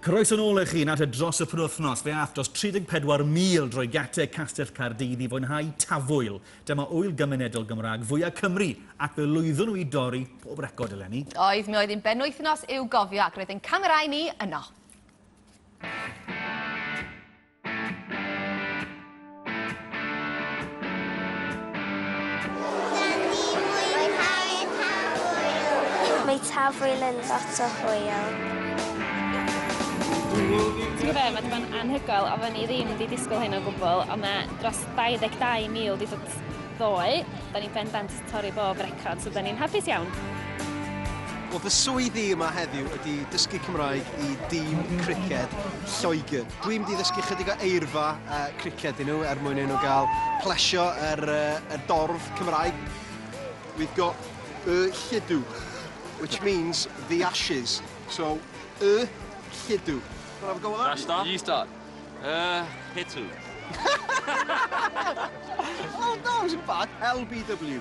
Croeso nôl eich hun at y dros y penwythnos. Fe ath dros 34,000 drwy gate Castell Caerdydd i fwynhau tafwyl. Dyma ŵyl gymunedol Gymraeg fwyaf Cymru ac fe lwyddwn nhw i dorri pob record eleni. Oedd, mi oedd un benwythnos i'w gofio ac roedd ein camerau ni yno. Tafwyl yn lot o hwyl. Ti'n gwybod be, mae wedi bod yn anhygoel, oedden ni ddim wedi disgwyl hyn o gwbl, ond mae dros 22,000 wedi dod ddoe. Da ni'n bendant torri bob record, so da ni'n hapus iawn. Wel, fy swydd i yma heddiw ydy dysgu Cymraeg i dîm criced Lloegr. Dwi'n mynd i ddysgu chydig o eirfa uh, criced i nhw er mwyn i nhw gael plesio yr, er, uh, er dorf Cymraeg. We've got y lludw, which means the ashes. So, y lludw. Can I have a go with that? Start? You start. Uh, Hitu. oh, no, it wasn't bad. LBW.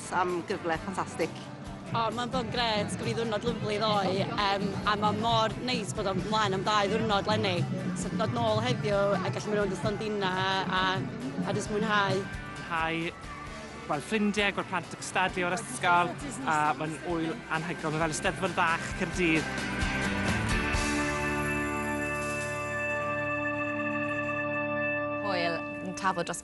Diolch am gyfle ffantastig. O, mae'n bod yn gret, gaf i ddwrnod lyflu ddoe, um, a mae mor neis bod o'n mlaen am dau ddwrnod lenni. So, dod nôl heddiw a gallu mynd rownd y stondina a, a jyst mwynhau. Hai, gweld ffrindiau, gweld plant yn cystadlu o'r ysgol, a mae'n wyl anhygol, mae fel y steddfod fach Cyrdydd. Hwyl yn tafod dros